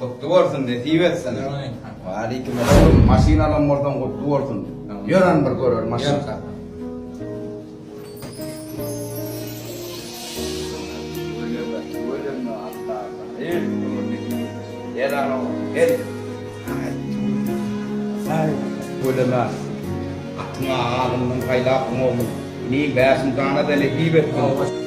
Gutly bolsun nesip etsin. Esselamaleýkum. Waleýkim esselam. Maşyn alan bolsaň gutly bolsun. Ýören bir görer maşynka. Gülüme, atyňa alyndan paýlapdyň oglum. Ine bäşiň jana-da nesip etsin.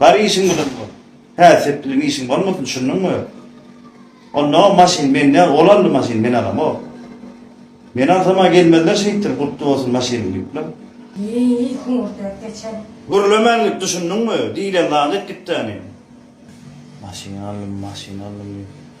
Bar işiň bilen bol. Hä, sepdiligi işiň bolmasyn, şunnuňmy? Onda o maşyn men däl, ol aldy maşyny, men alamok. Men alsam-a gelmezler şeýtdir, gutly bolsun maşynyň diýipler. Ýeý, hüňürdäp geçen. Gürlemän git, düşündiňmi? Diýlen zady etdik-dä ine. Maşyn aldym, maşyn aldym diýip.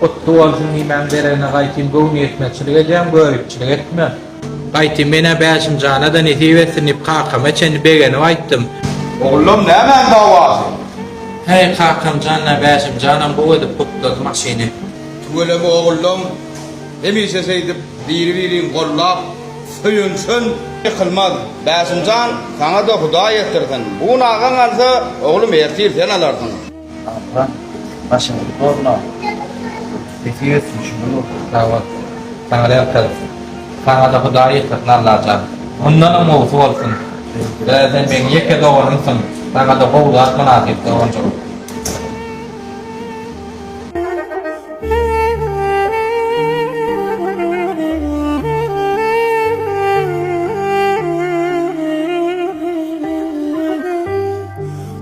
Gutly bolsun nimäň deregine gaýtym göwni ýetmezçilik edýäň göripçilik etme. Gaýtym menä Bäşimjana-da nesip etsin diýip kakama çenli begenip aýtdym. Ogullym nämäň dawasy? Häý kakamjan-a Bäşimjanam gowy edip gutlady maşyny. Tüweleme ogullym, hemişe şeýdip biri-biriň gollap söýünişen. Ýykylmaz Bäşimjan saňa-da Hudaý ýetdirsin. Bu gün agaň alsa, oglum ertir sen alarsyň. Abla başyňyzy bozmaň. Sesi ýetsin şunuň bolsun sag bol. Saňa ýalkasyn. Saňada Hudaý ýetirsin Allajan. Mundanam gowusy bolsun. Ee sen meň ýeke doganymsyň. Saňada gowy zat mynasyp doganjygym.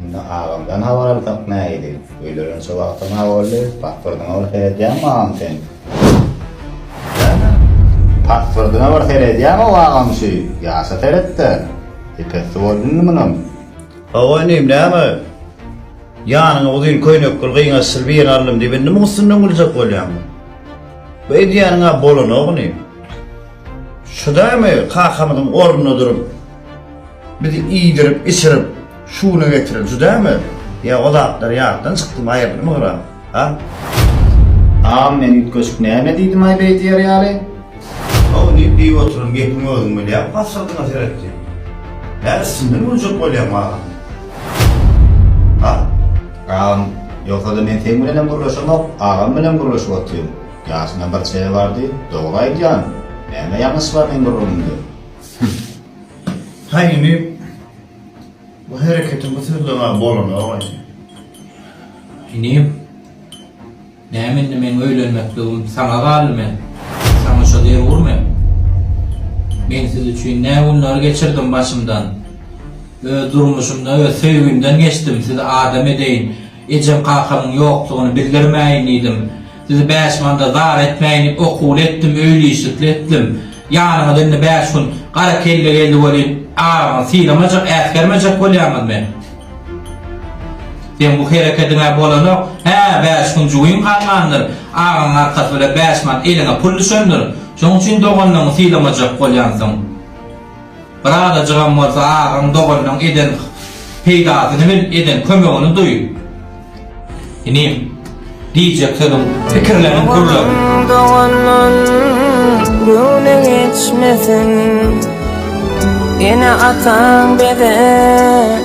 Indi agamdan habar alsak nähili? Öýlerençä wagtam-a boldy. Pasportyňa bir seredýäňmi agam sen? Näme? Pasportyňa bir seredýäň-ow agam şu ýaşa seret-de. Epessi boldy indi munam. Hawa inim, näme? Ýanyňa uzyn köýnekli, gyňaçsyz birini aldym diýip indi muň üstünden güljek bolýaňmy? Bu edýäniň-ä bolanok inim. Şu dämi kakamyzyň ornunda durup, bizi iýdirip-içirip, Şu güne getiren şu dämi? Ýa o zatlar ýatdan çykdymy, aýryldymy gyra? A? Agam men üýtgeşik näme diýdimaý beý diýer ýaly? How diýip diýip oturan gepiňi özüň bilýäň pasyrdyňa seret diýip. Hä üstünden güljek bolýaňmy agam? A? Agam ýogsada men seň bilenem gürleşemok, agam bilen gürleşip oturyn. Ýaşyna bir çeýe bardy, dogry aýdýan. Näme ýalňyş bar meň gürrüňimde? Hymm. Haý indi. Bu hereketiň bu sözleňe bolanok indi. Inim, näme indi meň öýlenmekligim saňa galdy men saňa şo dewürmi? Men siz üçin nä günler geçirdim başymdan. Öz durmuşymda öz söýgimden geçdim sizi adam edeýin, ejem-kakamyň ýokdugyny bildirmäýin diýdim. Sizi bäş manda zar etmäýin-ip okuwly etdim, öýli-işlikli etdim. Ýanyňyza indi bäş gün gara kelle geldi welin, araňyzy sylamajak, äsgermejek bolýaňyzmy? Seň bu herekediň-ä bolanok. Hä, bäş gün jübiň galmandyr, agaň arkasy bilen bäş mant eliňe pul düşendir. Şonuň üçin doganlygyňy sylamajak bolýansyň. Bir azajygam bolsa agaň, doganyň eden peýdasyny bil, eden kömegini duý. Inim, diýjek sözüň, pikirleriň gürlesin. Agaň, doganyň göwni geçmesin. Ene-ataň bezä.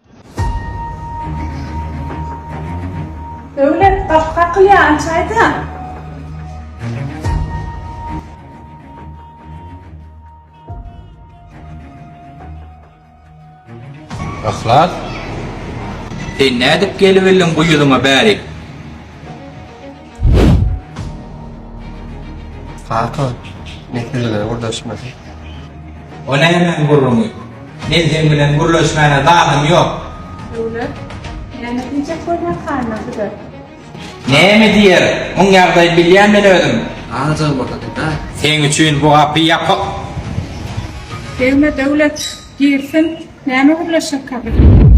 Döwlet gapy kakylýar açaýda. Yhlas sen nädip gelibildiň bu ýuzyňa bärik. Kaka, netijeleri gürleşmedi. O nämäň gürrüňi? Men seň bilen gürleşmäne zadym ýok. Döwlet, näme diýjek bolýar halyna size? Näme diýer? Muň ýagdaýyny bilýän men özüm. Alajagym bolsa diýdi-da. Seň üçin bu gapy ýapyk. Degme Döwlet, girsin. Näme gürleşekka bilen?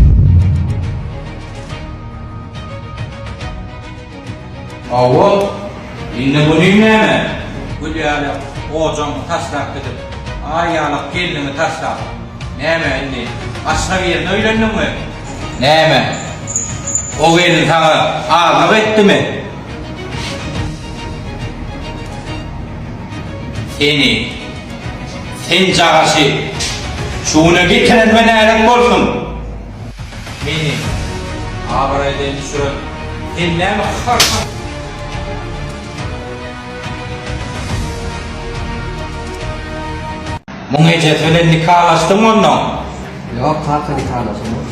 Hawa, indi muny näme? Gül ýaly ojagyňy taşlap gidip, Aý ýaly gelniňi taşlap, näme indi başga birine öýlendiňmi? Näme, o gelin saňa azlyk etdimi? Seni. Sen cagaşy şu güne getirenme nälet bolsun! Meni abraýdan düşüren sen näme hyrsyň? Muň ejesi bilen nikalaşdyňmy onnoň? Ýok kaka nikalaşamok.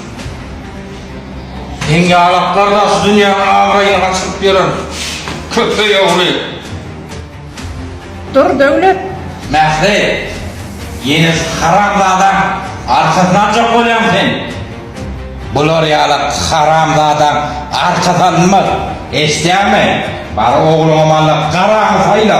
Seň ýalaklardan şu dünýäň abraýyny gaçyryp ýören köpeý ogly! Dur Döwlet! Mähri! Ýene şu haramzadaň arkasyny aljak bolýaňmy sen? Bular ýaly haramzadaň arkasy alynmaz, eşidýäňmi? Bar ogluňa malla garaňy saýla!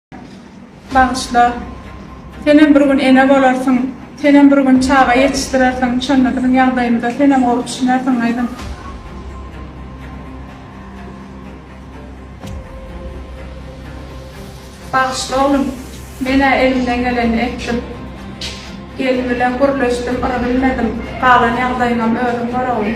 Bagyşla. Senem bir gün ene bolarsyň. Senem bir gün çaga ýetişdirersiň. Şonda biziň ýagdaýymyza senem gowy düşünersiň gyzym. Bagyşla oglum. Men-ä elimden geleni etdim. Gelin bilen gürleşdim, yry bilmedim. Galan ýagdaýyňam özüň gör oglum.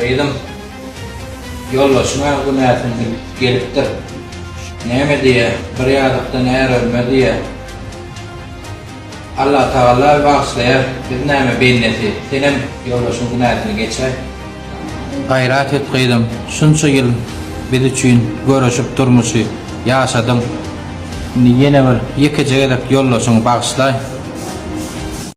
Gyzym, ýoldaşyň-a günäsini bilip gelipdir. Näme diýýä, bir ýazykdan är ölmez diýýä. Allatagalla bagyşlaýar, biz näme bennesi, senem ýoldaşyň günäsini geçäý. Gaýrat et gyzym, şunça ýyl biz üçin göreşip durmuşy ýaşadyň, indi ýene bir ýekeje gezek ýoldaşyňy bagyşlaý.